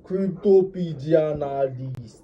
Cryptopedia analyst.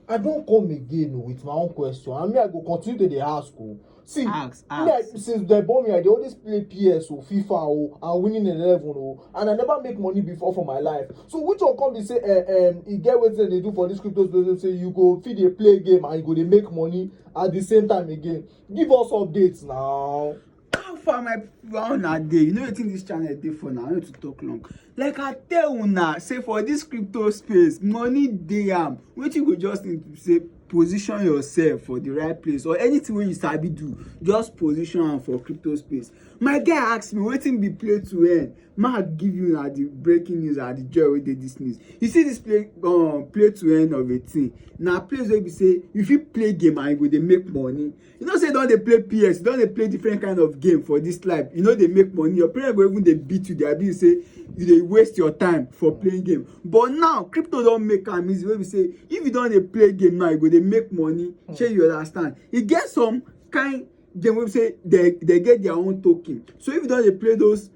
I don come again oh, with my own question and me I go continue to dey ask o. Oh. See, ask, ask. me I, since dem born me I dey always play PS o, oh, FIFA o oh, and winning eleven o oh, and I never make money before for my life. So which one come be say eh, um, e get wetin dem dey do for this crypto space say you go fit dey play game and you go dey make money at the same time again. Give us updates now. how far my people how una dey you know wetin this channel dey for now i no to talk long like i tell una say for this crypto space money dey am wetin you go just need to say position yourself for the right place or anything wey you sabi do just position am for crypto space my guy ask me wetin be play to earn ma give you na the breaking news and the joy wey dey this news you see this play um, play to earn of a thing na place wey be say you fit play game and you go dey make money you know say you don dey play ps you don dey play different kind of game for this life you no dey make money your parents go even dey beat you dey abuse say you dey waste your time for playing game but now crypto don make am easy wey be say if you don dey play game now you go dey make money hmm. shey you understand e get some kind game wey be say dey dey get their own token so if you don dey play those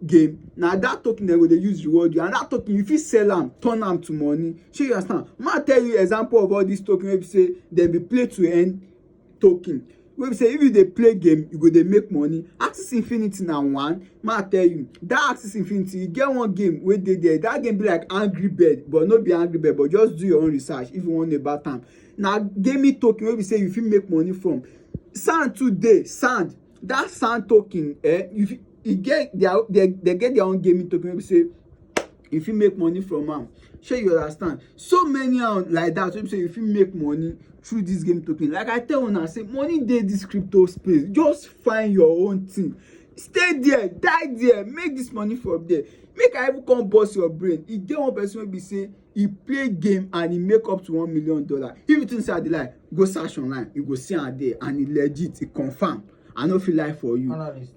game na that token dem go dey use reward you and that token you fit sell am turn am to money shey you understand ma tell you example of all these token wey be say dem be play to earn token wey be say if you dey play game you go dey make money axis infinity na one make i tell you that axis infinity e get one game wey dey there that game be like angry bird but no be angry bird but just do your own research if you wan know about am na gaming token wey be say you fit make money from sand too dey sand that sand token eh you fit e get their they get their own gaming token wey be say you fit make money from am shey you understand so many am like that wey be say you fit make money through this game token like i tell una say money dey this crypto space just find your own thing stay there die there make this money from there make i even come burst your brain e get one person wey be say e play game and e make up to one million dollar if you think say i dey lie go search online you go see am there and e legit e confirm i no fit lie for you analyst